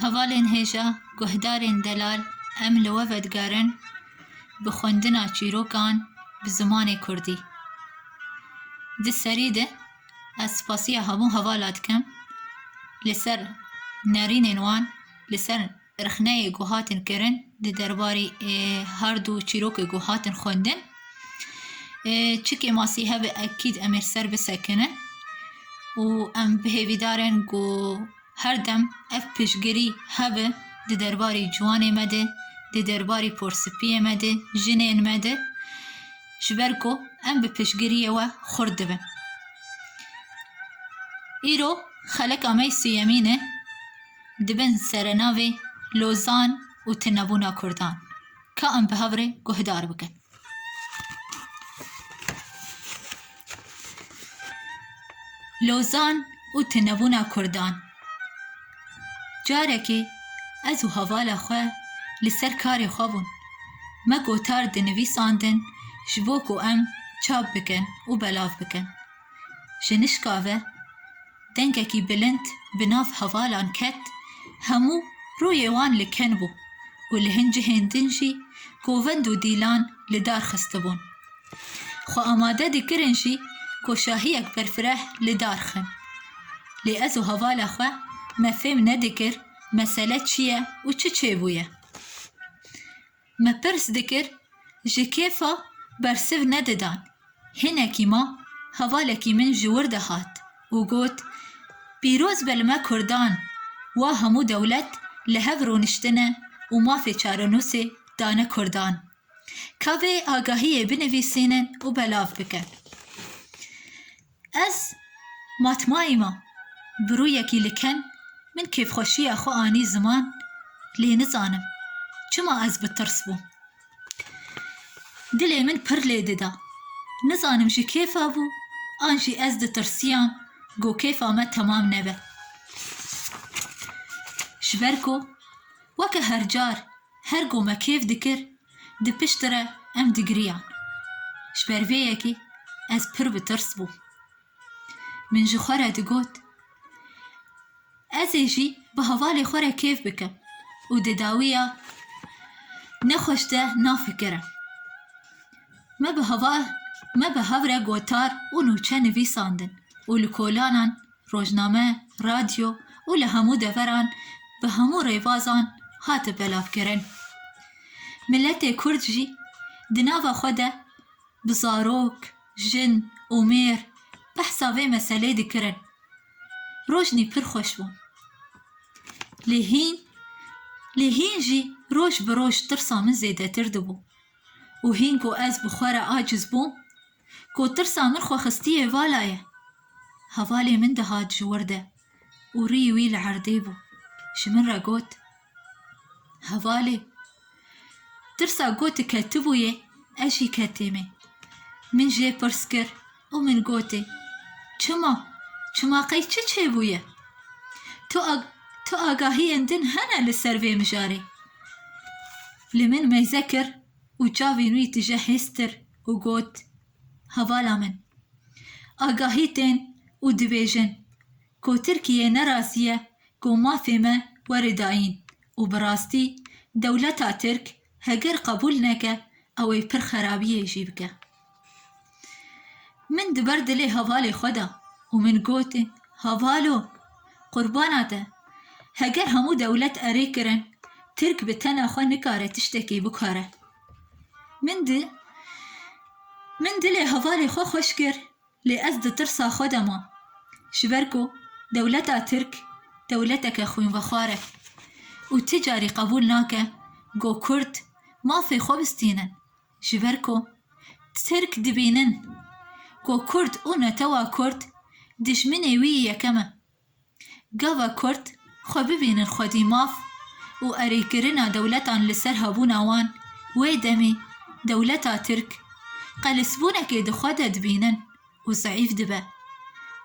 Hevalên hêja guhdarên delal em li we vedigerin bi xwendina çîrokan bi zimanê kurdî. Di serî de ez spasiya hemû hevala dikim li ser nerînên wan li ser Rexneyê ku hatin kirin di derbarî her du çîrokê ku hatin xwendin çikê masî hebe ekîd em ê li ser bisekinin û em bi hêvîdar in ku her dem ev piştgirî hebe di derbarî ciwanê me de, di derbarî porspiyê me de, jinên me de ji ber ku em bi piştgiriyê we xurt dibin. Îro xeleka me yê siyemîn e. Di bin serenavê Lozan û Tunebûna Kurdan ka em bi hev re guhdar bikin. Lozan û Tunebûna Kurdan Carekê ez û hevala xwe li ser karê xwe bûn. Me gotar dinivîsandin ji bo ku em çap bikin û belav bikin. Ji nişka ve dengekî bilind bi nav hevalan ket, hemû rûyê wan li ken bû û li hin cihên din jî govend û dîlan li dar xistibûn. Xwe amade dikirin jî ku şahiyek berfireh li dar xin. Lê ez û hevala xwe me fêm nedikir mesele çi ye û çi çêbûye. Me pirs dikir ji kêfa bersiv nedidan. Hinekî ma hevalekî min ji wir de hat û got, Pîroz be li me kurdan, wa hemû dewlet li hev rûniştine û mafê çarenûsê dane kurdan. Ka vê agahiyê binivîsînin û belav bikin. Ez matmayî ma bi rûyekî li ken min kêfxweşiya xwe anî ziman lê nizanim çima ez bi tirs bûm. Dilê min pir lê dida. Nizanim ji kêfa bû an jî ez ditirsiyam ku kêfa me temam nebe. Ji ber ku weke her car her ku me kêf dikir Di piştî re em digiriyan. Ji ber vê yekê ez pir bi tirs bûm. Min ji xwe re digot, Ez ê jî bi hevalê xwe re kêf bikim û di dawiya nexweş de nafikirim. Me bi hev re gotar û nûçe nivîsandin û li kolanan rojname, radyo û li hemû deveran bi hemû rêbazan hate belavkirin. Miletê Kurd jî di nava xwe de bi zarok, jin û mêr behsa vê meselê dikirin. Rojnî pir xweş bû. Lê hîn lê hîn jî roj bi roj tirsa min zêdetir dibû. û hîn ku ez bi xwe re aciz bûm, ku tirsa min xwe xistiyê valayê, hevalê min dihat ji wir de û rî wî li erdê bû, ji min re got, Hevalê, tirsa ku tu ketibûyê, ez jî ketîmê. Min jê pirs kir, Û min gotê, Çima? Çima qey çi çêbûye? Tu tu agahiyên din hene li ser vê mijarê? Li min meyze kir û çavên wî tije hêztir û got, Hevala min, agahî tên û dibêjin ku Tirkiye ne razî ye ku mafê me were dayîn û bi rastî dewleta Tirk Heger qebûl neke ew ê pir xerabiyê jî bike. Min di ber dilê hevalê xwe da û min got, Hevalo, qurbana te, heger hemû dewlet erê kirin, tirk bi tena xwe nikare tiştekê bikare. Min di min dilê hevalê xwe xweş kir Lê ez di tirsa xwe de mam. Ji ber ku dewleta Tirk dewleteke xwînvexwar e û ti carî qebûl nake ku Kurd mafê xwe bistînin. Ji ber ku Tirk dibînin ku Kurd û netewa Kurd dijminê wî yekem e. Gava Kurd xwe bibînin xwedî maf û erê kirina dewletan li ser hebûna wan, wê demê dewleta Tirk qelisbûnekê di xwe de dibînin û zeîf dibe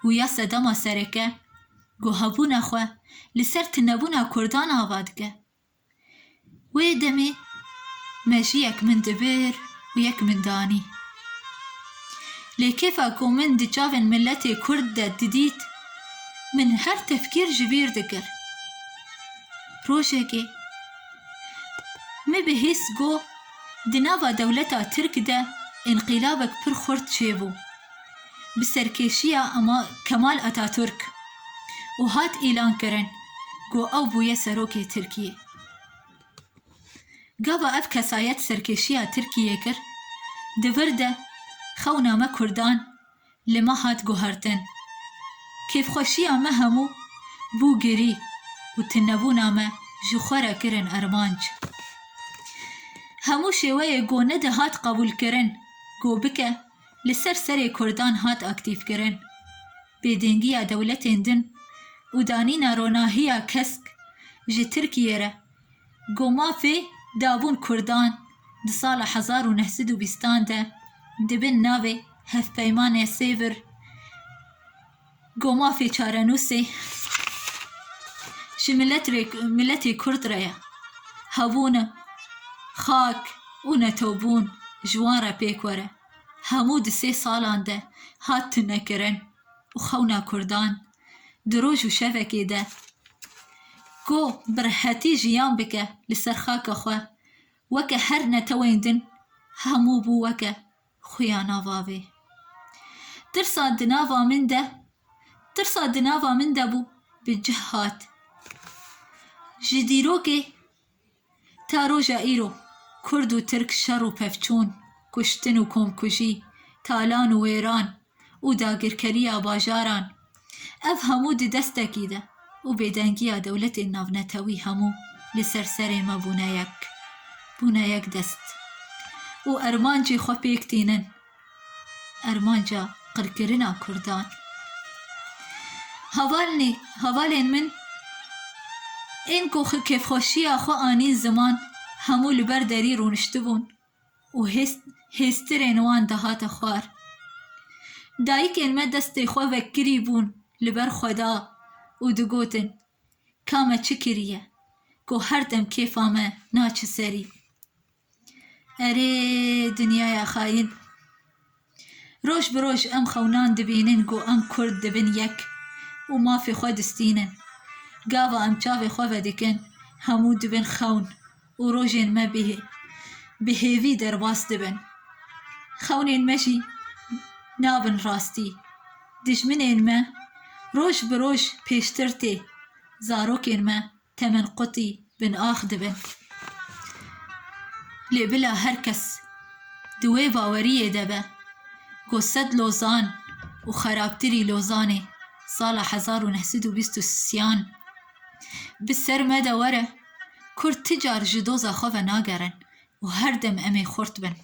û ya sedema sereke ku hebûna xwe li ser tunebûna Kurdan ava dike. Wê demê mejiyek min dibir û yek min danî. Lê kêfa ku min di çavên miletê Kurd de didît, min her tefkîr ji bîr dikir. Rojekê me bi hês got di nava dewleta Tirk de înqîlabek pir xurt çêbû. bi serkêşiya Kemal Atatürk û hat îlankirin ku ew bûye serokê Tirkiyê. Gava ev kesayet serkêşiya Tirkiyê kir, di vir de xewna me Kurdan li me hat guhertin. Kêfxweşiya me hemû bû girî û tunebûna me ji xwe re kirin armanc. Hemû şêweyê ku nedihat qebûlkirin ku bike, li ser serê Kurdan hat aktîfkirin. Bêdengiya dewletên din û danîna ronahiya kesk ji Tirkiyê re ku mafê dabûn Kurdan di sala hezar û neh sed û bîstan de di bin navê Hevpeymanê Sêvir, Gomafê çarenûsê ji milet re miletê Kurd re ye. Hebûn e. Xak û netewbûn ji wan re pêk were. Hemû di sê salan de hat tunekirin û xewna Kurdan di roj û şevekê de ku bi rehetî jiyan bike li ser xaka xwe weke her netewên din hemû bû weke. Xuya nava vê tirsa di nava min de, tirsa di nava min de bû bi cih hat. Ji dîrokê ta roja îro Kurd û Tirk şer û pevçûn, kuştin û komkujî, talan û wêran, û dagirkeriya bajaran, ev hemû di destekî de û bêdengiya dewletên navnetewî hemû li ser serê me bûne yek, bûne yek dest û ermancê xwe pêk tînin, ermanca qirkirina kurdan. Havalnî, havalên min ên ku kêfxweşiya xwe anîn ziman hemû li ber derî rûniştibûn. û hêstirên wan dihate xwar. Dayikên me destê xwe vekirî bûn li ber Xweda û digotin, Ka me çi kiriye ku her dem kêfa me naçe serî? Erê dinyaya xayîn! Roj bi roj em xewnan dibînin ku em Kurd dibin yek û mafê xwe distînin. Gava em çavê xwe vedikin hemû dibin xewn û rojên me bi bi hêvî derbas dibin. Xewnên me jî nabin rastî. Dijminên me roj bi roj pêştir tê. Zarokên me Temen qutî bin ax dibin. Lê bila her kes di wê baweriyê de be ku sed Lozan û xerabtirî Lozanê sala hezar û neh sed û bîst û siyan bi ser me de were, Kurd ti car ji doza xwe ve nagerin. Û her dem em ê xurt bin.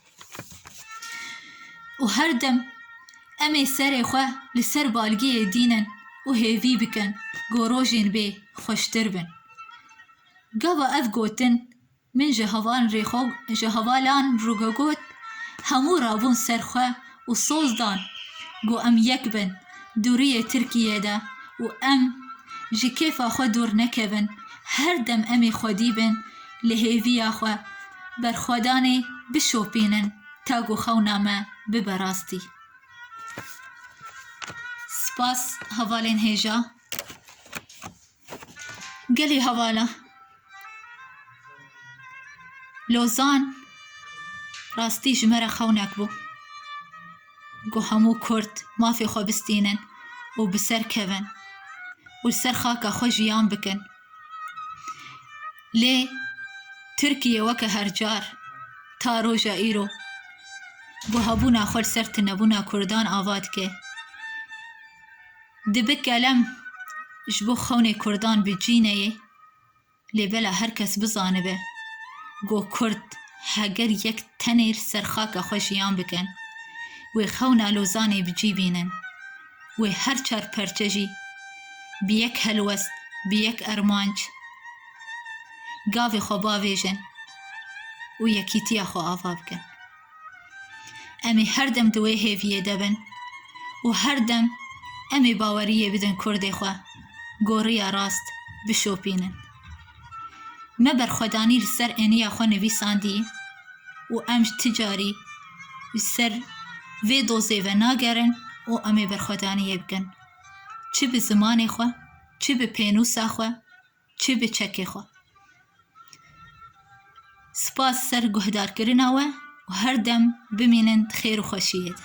Û her dem em ê serê xwe li ser balgiyê dînin û hêvî bikin ku rojên bê xweştir bin. Gava ev gotin min ji heval rê xwe ji hevalan rû xwe got, hemû rabûn ser xwe û soz dan ku em yek bin dûriyê Tirkiyeyê de û em ji kêfa xwe dûr nekevin, her dem em ê xwedî bin, li hêviya xwe berxwedanê bişopînin ta ku xewna me bibe rastî. Spas hevalên hêja. Gelê hevala. Lozan rastî ji me re xewnek bû. Ku hemû Kurd mafê xwe bistînin û bi ser kevin û li ser xaka xwe jiyan bikin. Lê Tirkiye weke her car ta roja îro guhabûna xwe li ser tunebûna Kurdan ava dike. Dibe kelem ji bo xewnê Kurdan bi cî neyê lê bela her kes bizanibe ku Kurd heger yek tenê li ser xaka xwe jiyan bikin wê xewna Lozanê bi cî bînin. wê her çar perçe jî bi yek helwest, bi yek armanc gavê xwe bavêjin û yekîtiya xwe ava bikin. Em ê her dem di wê hêviyê de bin û her dem em ê baweriyê bidin Kurdê xwe goriya rast bişopînin. Me berxwedanî li ser eniya xwe nivîsandî û em ji ti carî li ser vê dozê ve nagerin û em ê berxwedaniyê bikin çi bi zimanê xwe, çi bi pênûsa xwe, çi bi çekê xwe. Spas ser guhdarkirina we û her dem bimînin di xêr û xweşiyê de.